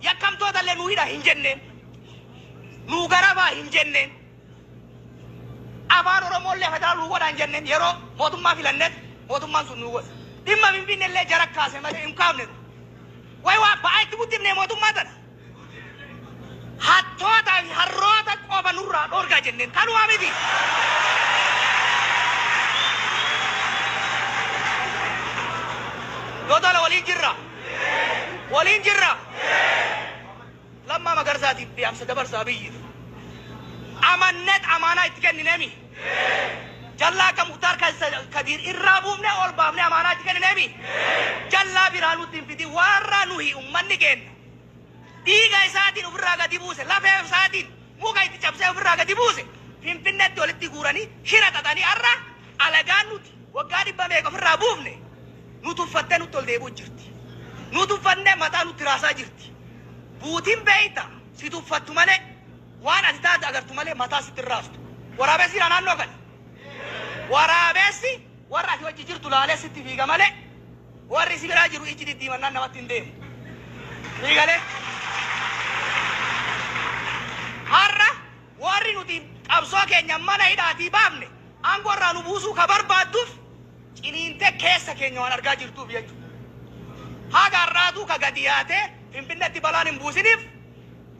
Yakkamtootalle nu hidha hin jenneen. Nuu garabaa hin jenneen. Afaan Oromoolle federal nuu godha hin jenneen. Yeroo mootummaa filannet mootummaan sun nuu godhe. Dhimma Finfinnellee jara kaase malee hin kaafne nu. Way waa ba'aa itti guddifne mootummaa tana. Hattoota fi harroota qofa nurraa dhoorgaa jenneen. Kanuma miti. Dodolo waliin jirra. Waliin jirra! Lammaa Magarsaatiif Dhaamsa Dabarsa Abiyyiif Amanneet Amaanaa Itti Kennineemi? Jallaa Akka Muktaar Kadiir Irraa Buufnee Ol Baafnee Amaanaa Itti Kennineemi? Jallaa Biraa Nutti Hin Fidin Warra Nuyi Ummanni Keenna Dhiiga Isaatiin Ufirraa Gadi Buuse Lafee Isaatiin Muka Itti Cabsee Ufirraa Gadi Buuse Finfinneetti Walitti Guuranii Shira Xaxanii Arra Alagaan Nu Waggaa dhibba meeqa ofirraa buufne nu tuffattee nutti ol deebi'u jirti. Nu tuffattee mataa nutti raasaa jirti. Buutin beekta si tuffattu malee waan ati taate agartu malee mataa sitti hin raastu. Waraabessi jira naannoo kana. Waraabessi warra ati wajji jirtu laalee sitti fiiga malee warri si biraa jiru ijji diddiimannaan namatti hin deemu. Ni galee? Har'a Warri nuti qabsoo keenya mana hidhaatii baafne aangoo irraa nu buusuu ka barbaadduf ciniintee keessa keenya waan argaa jirtuuf jechu. Haga har'aatuu ka gadi yaatee Finfinnetti balaan hin buusiniif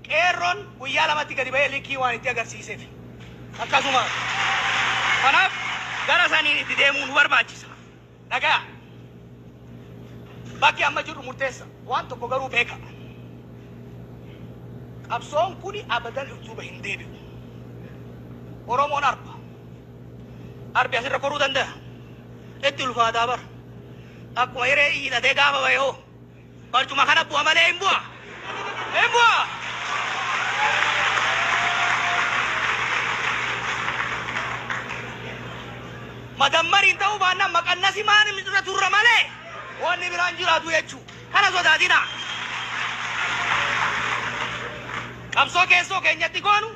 Qeerroon guyyaa lamatti gadi bahee likkii waan itti agarsiisefi. Akkasuma. Kanaaf gara saniin itti deemuu nu barbaachisa. Dhagaya! Bakki amma jirru murteessa. Waan tokko garuu beeka. Qabsoon kun abadan duuba hin deebi'u. Oromoon arba. Arbi asirra koruu dandaya? Itti ulfaataa bar. Akkuma hiree iyyitatee gaafa bahe hoo Barcuma kana bu'a malee hin bu'a! Hin bu'a! Madammariin ta'uu baannaan maqannasi maanim irra turra malee wanni biraa hin jiraatu jechuu. Kana sodaatinaa! Qabsoo keessoo keenyatti goonu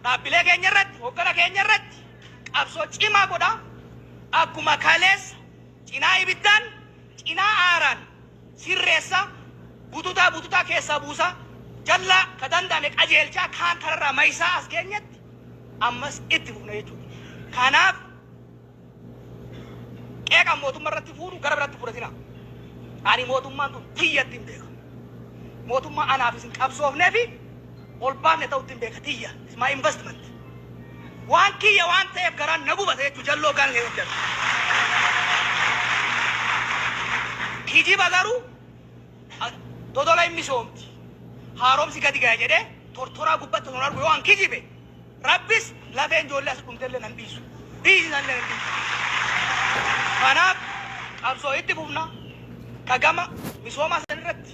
dhaabbilee keenya irratti, hoggana keenya irratti qabsoo cimaa godhaa akkuma kaleessa cinaa ibiddaan Cinaa aaraan sirreessa, bututaa bututaa keessaa buusa, jallaa ka danda'ame qajeelchaa kaan kararraa mayisaa as geenyetti ammas itti fufna jechuudha. Kanaaf qeeqan mootumma irratti fuunu gara biratti hin fudhatinaa. Ani mootummaan tun tiyya ittin beeka. Mootummaa anaaf isin qabsoofneefi ol baafne ta'u ittin beeka tiyya. It's my investment. Waan kiyya waan ta'eef garaan na gubata jechuun jalloo gun lee hojjata. Kijiba garuu a Dodola hin misoomti, haaromsi gadi gaya jedhee tortoraa gubbatti osoo hin argu yoo an kijibe Rabbis lafeen ijoollee as dhumte illee nan dhiisu. Dhiisi san illee nan dhiisu. Kanaaf qabsoo itti fufna ka gama misoomaa san irratti.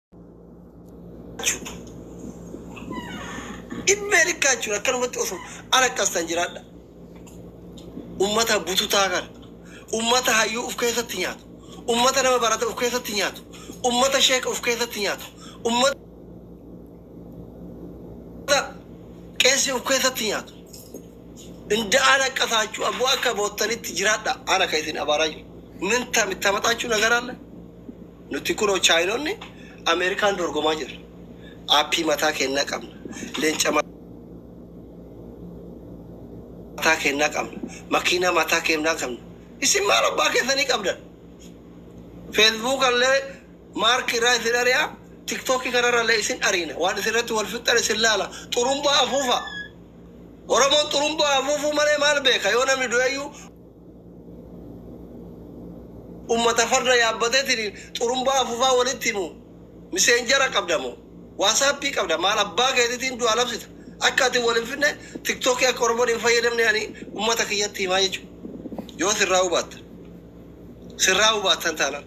Dhimma ergaa jechuun akkanumatti osoo ala qastan jiraadha. Uummata bututaa kana, uummata hayyuu of keessatti nyaatu, uummata nama barate of keessatti nyaatu, uummata sheeka of keessatti nyaatu, uummata qeessi of keessatti nyaatu. Inda ala qasaachuu abboo akka boottanitti jiraadha. Ana kan isin abaaraa jiru. Min tamaxaachuu nagaraalle. Nuti kunoo Chaayinonni Ameerikaan dorgomaa jirra. Aappii mataa keennaa qabna. Leenca mataa keennaa qabna. Makiinaa mataa keennaa qabna. Isin maal abbaa keessanii qabdan? Feesbuukallee Maark irraa isin ari'a, TikTokii kanarrallee isin ariina. Waan isin irratti wal fixxan isin laala. Xurumbaa afuufaa. Oromoon xurumbaa afuufuu malee maal beeka? Yoo namni du'eyyuu. Ummata farda yaabbateetiin xurumbaa afufaa walitti himu miseenjara qabda moo waasaappii qabda maal abbaa keetitiin du'a labsita akka ati wal hin fidne tiktoki akka oromon hin fayyadamne ani ummata kiyyatti himaa jechuu yoo sirraahuu baattan sirraahuu baattan taanan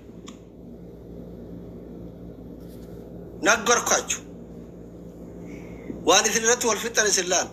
nagbarkaachu waan isin irratti wal fixxan isin laala.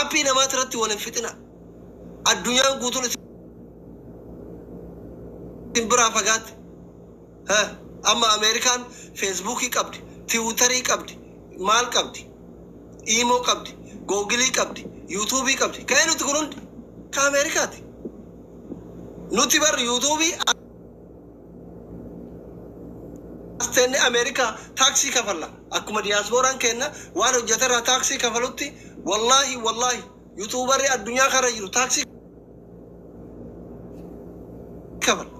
Appii namaati irratti wal hin fixina. Addunyaan guutuun isin biraa fagaatte. Ha, Amma Ameerikaan feesbuukii qabdi, tiwutarii qabdi, maal qabdi, iimoo qabdi, googilii qabdi, yuutuubii qabdi. Ka'ee nuti kun hundi ka Ameerikaati. Nuti bar yuutuubii As teennee Amerikaa taaksii kafalla. Akkuma diyaaspooraan keenna waan hojjate irraa taaksii kafalutti wallaahi wallaahi yutuubarri addunyaa kana jiru taaksii kafala.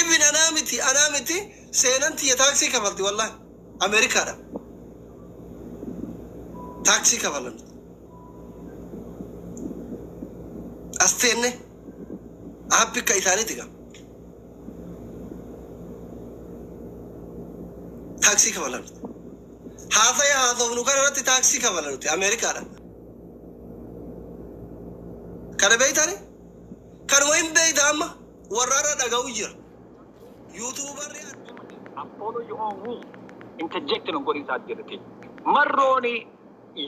Ibin anaa miti anaa miti seenan tiyya taaksii kafalti wallaahi Amerikaadha taaksii kafalan as teennee. App akka isaaniiti gaa. Taaksii kafala nuti. Haasaya haasofnu kana irratti taaksii kafala nuti Ameerikaadha. Kana beeytani? Kanuma hin beeyta amma warra irra dhaga'u jira. Yuutuubarri Apollo you on me interject nun godhin saat jedhete. Marrooni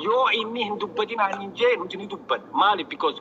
yoo inni hin dubbatin aanin jee nuti ni dubban. Maali because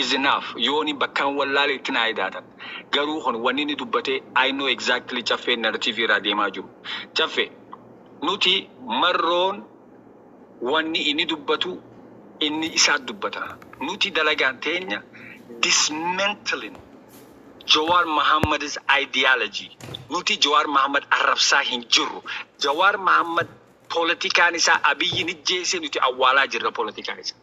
is enough yooni bakkan wallaale itti naa edaatan garuu kun wanni inni dubbate I know exactly caffeen narrative irraa deemaa jiru caffe nuti marroon wanni inni dubbatu inni isaat dubbata nuti dalagaan teenya dismantling Jawaar Mohammad's ideology nuti Jawaar Mohammad arrabsaa hin jirru Jawaar Mohammad polotikaan isaa Abiyyiin ijjeese nuti awwaalaa jirra polotikaa isaa.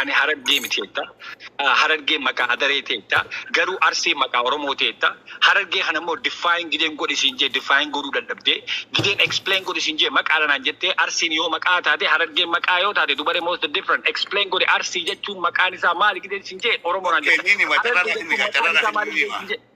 Ani Harargee miti jetta. Harargeen maqaa Adaree ti jetta. Garuu Arsiin maqaa Oromoo ti jetta. Harargee kana immoo define Gideen godhi siin jee define godhuu dadhabdee. Gideen explain godhi siin jee maqaa dha naan jettee. Arsiin yoo maqaa taate Harargeen maqaa yoo taate dubaree most the different explain godhi Arsii jechuun maqaan isaa maali Gideen siin jee Oromoo naan jetta. Harargee jechuun maqaan isaa maali Gideen siin jee.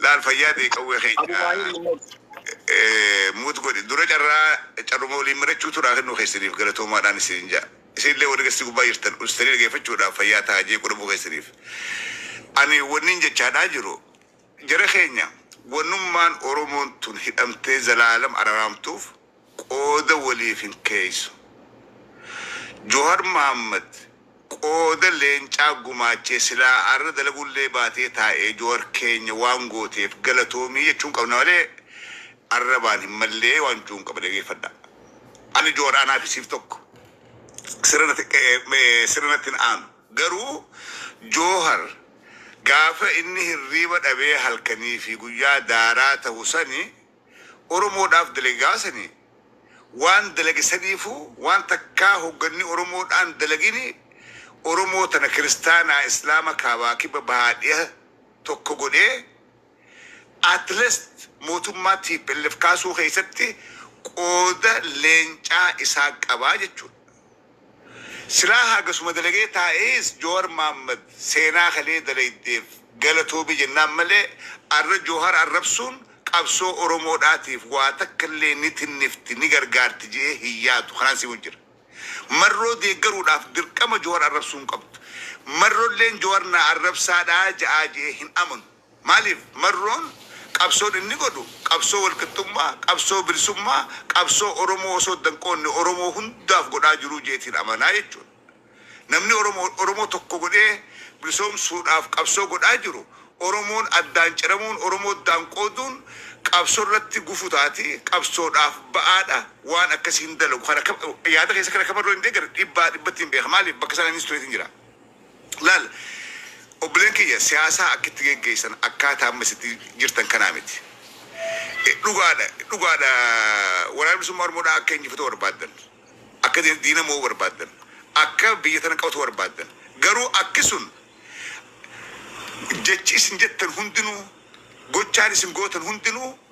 Laal fayyaa ta'e qawwee Abu keenya Xaahir Muhammad. mute godhi. Dura carraa carruma waliin mari'achuutu naa kennuu keessaniif galatoomaadhaan isiniin ja'a. Isin illee warri gastii gubbaa jirtan ustanii dhageeffachuudhaaf fayyaa tahaa jeequu dhabuu keessaniif. Ani wannin jechaadhaa jiru jara keenya wannummaan Oromoon tun hidhamtee zalaalam araraamtuuf, qooda waliif hin keeysu. Johar Mohammed qooda leencaa gumaachee silaa arra dalagullee baatee taa'ee Johar keenya waan gooteef galatoomii jechuun qabna malee arrabaan hin mallee waan juun qaba dhageeffadhaa. Ani Johar anaa fi siif tokko. Sirra natti sirra natti hin aanu. Garuu Johar gaafa inni hirriiba dhabee halkanii fi guyyaa daaraa tahu sani Oromoodhaaf dalage gaafa sani waan dalage saniifuu waan takkaa hogganni Oromoodhaan dalagini Oromoo tana kiristaanaa islaama kaabaa kibba bahaa dhiha tokko godhee at least mootummaa tplf kaasuu keessatti qooda leencaa isaa qabaa jechuudha. Silaa hagasuma dalagee taa'ees Jowar Mohammed seenaa kalee dalaydeef galatoomi jennaan malee arra Jowhar arrabsuun qabsoo Oromoodhaatiif waa takkallee ni tinnifti ni gargaarti je'ee hin yaadu kanaan si wajji jira. Marroo deeggaruudhaaf dirqama Jowar arrabsuu hin qabdu. Marrolleen Jowar na arrabsaadhaa ja'aa je'ee hin amanu. Maaliif? Marroon qabsoon inni godhu qabsoo walqixxummaa, qabsoo bilisummaa, qabsoo Oromoo osoo adda hin qoodne Oromoo hundaaf godhaa jiruu jeetiin amanaa jechuudha. Namni Oromoo Oromoo tokko godhee bilisoomsuudhaaf qabsoo godhaa jiru Oromoon addaan ciramuun, Oromoo addaan qooduun qabsoo irratti gufu taati, qabsoodhaaf ba'aa dha, waan akkasii hin dalagu. Kana yaada keessa kana akka Marroon hin deeggarre dhibbaa dhibbatti hin beeka. Maaliif? Bakka sana innis tureetiin jira. Laal obboleen kiyya siyaasaa akkitti geggeessan akkaataa amma isitti jirtan kanaa miti. Dhugaadha dhugaadha waraana bilisummaa oromoodhaa akka injifatuu barbaaddan akka diina moo'uu barbaaddan akka biyya tana qabatuu barbaaddan garuu akki sun jechi isin jettan hundinuu gochaan isin gootan hundinuu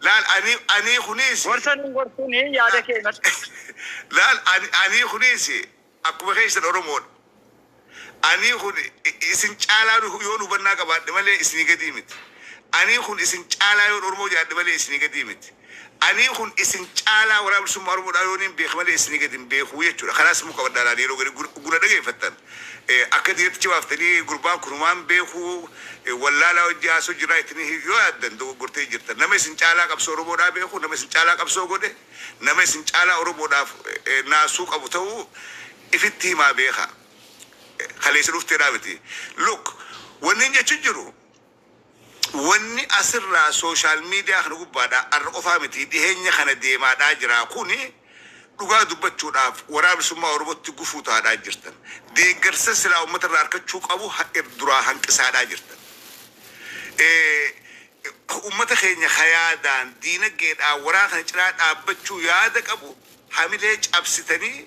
Laal anii anii kuniisi. Gorsa nun gorsuuni yaada kee himadhu. Laal anii anii kuniisi akkuma keessan oromoodha. Anii kun isin caalaa yoon hubannaa qabaadhe malee isinii gadii miti. Anii kun isin caalaa yoon oromoo jaadhe malee isinii gadii miti. Anii kun isin caalaa waraana bilisummaa oromoodhaa yooniin beeke malee isinii gadi hin beekuu jechuudha. Kanaas immoo qabadhaa laal yeroo gari guna dhageeffattan. Akka diinaticha baaftanii gurbaan kun homaa hin beeku, wallaalaa wajji haasa'u jira jettanii yoo yaaddan dogoggortanii jirtan. Nama isin caalaa qabsoo Oromoodhaa beeku, nama isin caalaa qabsoo godhe, nama isin caalaa Oromoodhaaf naasuu qabu ta'uu ifitti himaa beekaa. Kaleessa dhufteedhaa miti. Look, wannin jechu jiru. Wanni asirraa social media kana gubbaadhaa arra qofaa mitii dhiheenya kana deemaadhaa jiraa kuni dhugaa dubbachuudhaaf Waraana Bilisummaa Oromotti gufuu tahaadhaa jirtan. Deeggarsa silaa ummata irraa arkachuu qabu duraa hanqisaadhaa jirtan. Ummata keenya ka yaadaan, diinaggeedhaan waraana kana cinaa dhaabbachuu yaada qabu hamilee cabsitanii,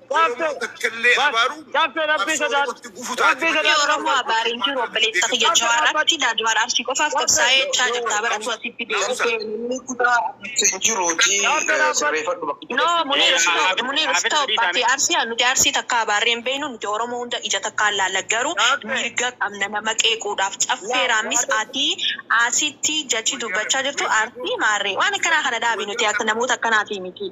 Oromoo takkallee abaaruu qabsoo Oromootti gufu taate malee. Rabbi Oromoo abaare hin jiru obboleessa kiyya Jawaar atti Daadmaan Arsii qofaaf qabsaa'ee jechaa jirtaa bar atuu asitti deebitee. Namni kutaa abaarsa hin jiru ati sirreefadhu bakka itti No Muniir deebitee stop abaaruu. Muniir stop ati Arsii haa nuti Arsii takkaa abaarree hin beeynu nuti Oromoo hunda ija takkaan laalla garuu mirga qabna nama qeequudhaaf Caffee Raammis ati asitti jechi dubbachaa jirtu Arsii maarree waan akkanaa kana dhaabi nuti akka namoota akkanaatii miti.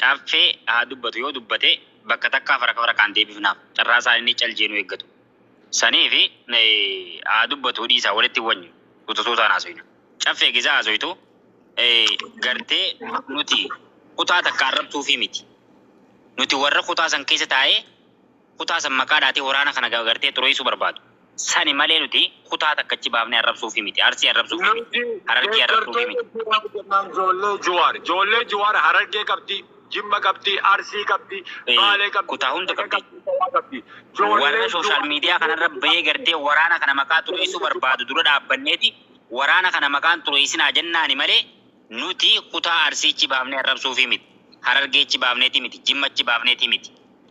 Caffee haa dubbatu yoo dubbate bakka takkaa fara fara kaan deebifnaaf carraa isaa inni cal jee nu eeggatu saniifi haa dubbatuu dhiisaa walitti hin wanyu suuta suutaan haasoyna Caffee egesaa haasoytu gartee nuti kutaa takka arrabsuufii miti nuti warra kutaa san keessa taa'ee kutaa san maqaa dhaatii waraana kana gagartee xureessuu barbaadu. Sani malee nuti kutaa takka achi baafnee arrabsuufii miti. Arsii arrabsuufii miti. Nuti Harargee arrabsuufii deeggartoota miti. Jiwaar jennaan joollee Jiwaar. Joollee Jiwaar Harargee qabdi, Jimma qabdi, Arsii qabdi, Ee, Baalee qabdi, kutaa hunda Wallagga qabdi. qabdi, Shawaa qabdi. Warra Joollee social Jiwaar media kana irra bahee gartee waraana kana maqaa xureessuu barbaadu dura dhaabbanneeti waraana kana maqaa hin xureessinaa jennaani malee nuti kutaa Arsii achi baafnee arrabsuufii miti. Harargee achi baafneetii miti. Jimma achi baafneetii miti.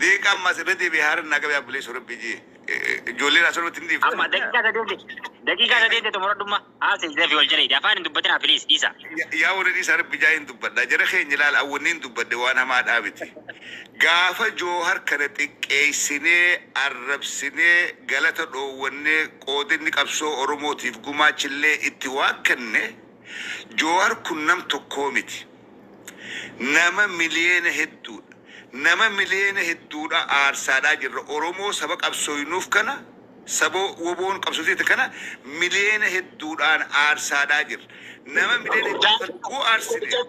Diiqaan Masirritii fi Haaran Naaqab yaa Obboleessoo Rabbii ji ijoolleen asirra irratti hin dhiiftan. Amma daqiiqaa sadeen teeti. Daqiiqaa sadeen teeti xumura dhumma. Haasa isin fi wal jala hidhi. Afaan hin dubbatinaa please dhiisa. Yaa warri dhiisaa Rabbi jaa hin dubbadha. Jara keenya ilaala awwanni hin dubbadde waan hamaadhaa miti. Gaafa Joohar kana xiqqeessinee, arrabsinee, galata dhoowwannee, qoodinni qabsoo Oromootiif gumaachillee itti waakkanne, Jowar kun nam tokkoo miti. Nama miliyeena hedduudha. Nama miliyeena hedduudhaa aarsaadhaa jirra. Oromoo saba qabsooynuuf kana, saba wboon qabsoo seete kana miliyeena hedduudhaan aarsaadhaa jirra. Nama miliyeena hedduu kana yoo aarsine qabsoo.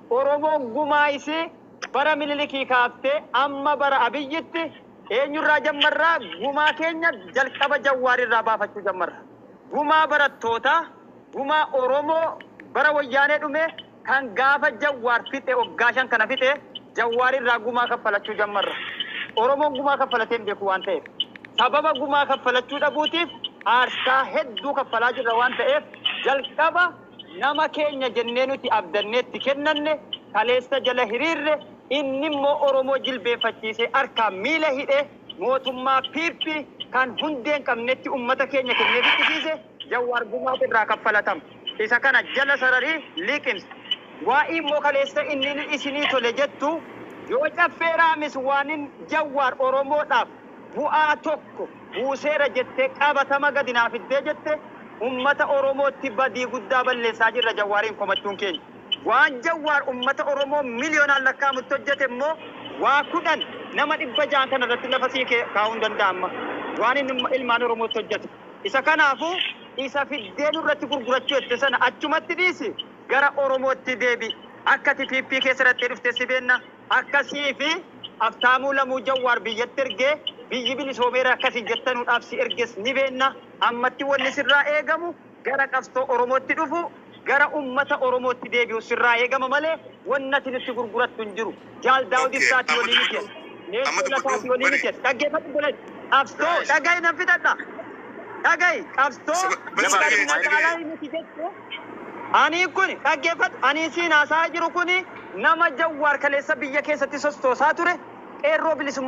Oromoon gumaa isii bara Minilikii kaaftee amma bara Abiyyitti eenyurraa jammarra? Gumaa keenya jalqaba Jawwaarirraa baafachuu jammarra. Gumaa barattootaa, gumaa Oromoo bara Wayyaanee dhume kan gaafa Jawwaar fixe waggaa 5 kana fixe Jawwaarirraa gumaa kaffalachuu jammarra. Oromoon gumaa kaffalatee hin beeku waan ta'eef. Sababa gumaa kaffalachuu dhabuutiif aarsaa hedduu kaffalaa jirra waan ta'eef jalqaba Nama keenya jennee nuti abdannee itti kennanne, kaleessa jala hiriirre, innimmoo Oromoo jilbeeffachiisee harkaan miila hidhee mootummaa pp kan hundee hin qabnetti ummata keenya kennee ficcisiise Jawwaar gumaata irraa kaffalatama. Isa kana jala sararii liqimsi. Waa'ii immoo kaleessa inni isinii tole jettu yoo Caffee Raamis waanin Jawwaar Oromoodhaaf, bu'aa tokko buuseera jettee qabatama gadi naa fiddee jette ummata oromootti badii guddaa balleessaa jirra Jawwaariin komachuun keenya. Waan Jawwaar ummata oromoo miliyonaan lakkaa'amutti hojjete immoo waa kudhan nama 600 kana irratti lafa sii kaa'uu hin danda'a amma waan inni ilmaan oromootti hojjete. Isa kanaafuu isa fiddee nurratti gurgurachuu jette sana achumatti dhiisi gara oromootti deebi'i. Akka ati PP keessa dhaqxee dhuftes si beenna. Akka sii fi Aftaamuu Lamuu Jawwaar biyyatti ergee biyyi bilisoomeera akka isin jettanuudhaaf si erges ni beenna. Ammatti wanni sirraa eegamu gara qabsoo Oromootti dhufuu, gara ummata Oromootti deebi'uu sirraa eegama malee wanni ati nutti gurgurattu hin jiru. Jaal Daawud Ok, Ibsaatii amma olii miti dubbadhu. jedhe. Amma Leeccoo dubbadhu. Lataatii olii miti Bari. jedhe. Dhaggeeffadhu obboleessa. Qabsoo Eesh. dhaga'i nan fixadha. Dhaga'i qabsoo Saba- bari Jabaa sagalee, Bilxiginnaa sagalee. caalaa miti jechuun Anii kuni dhaggeeffadhu anii siin haasa'aa jiru kuni nama Jawwaar kaleessa biyya keessatti sostoosaa ture qeerroo bilisummaa.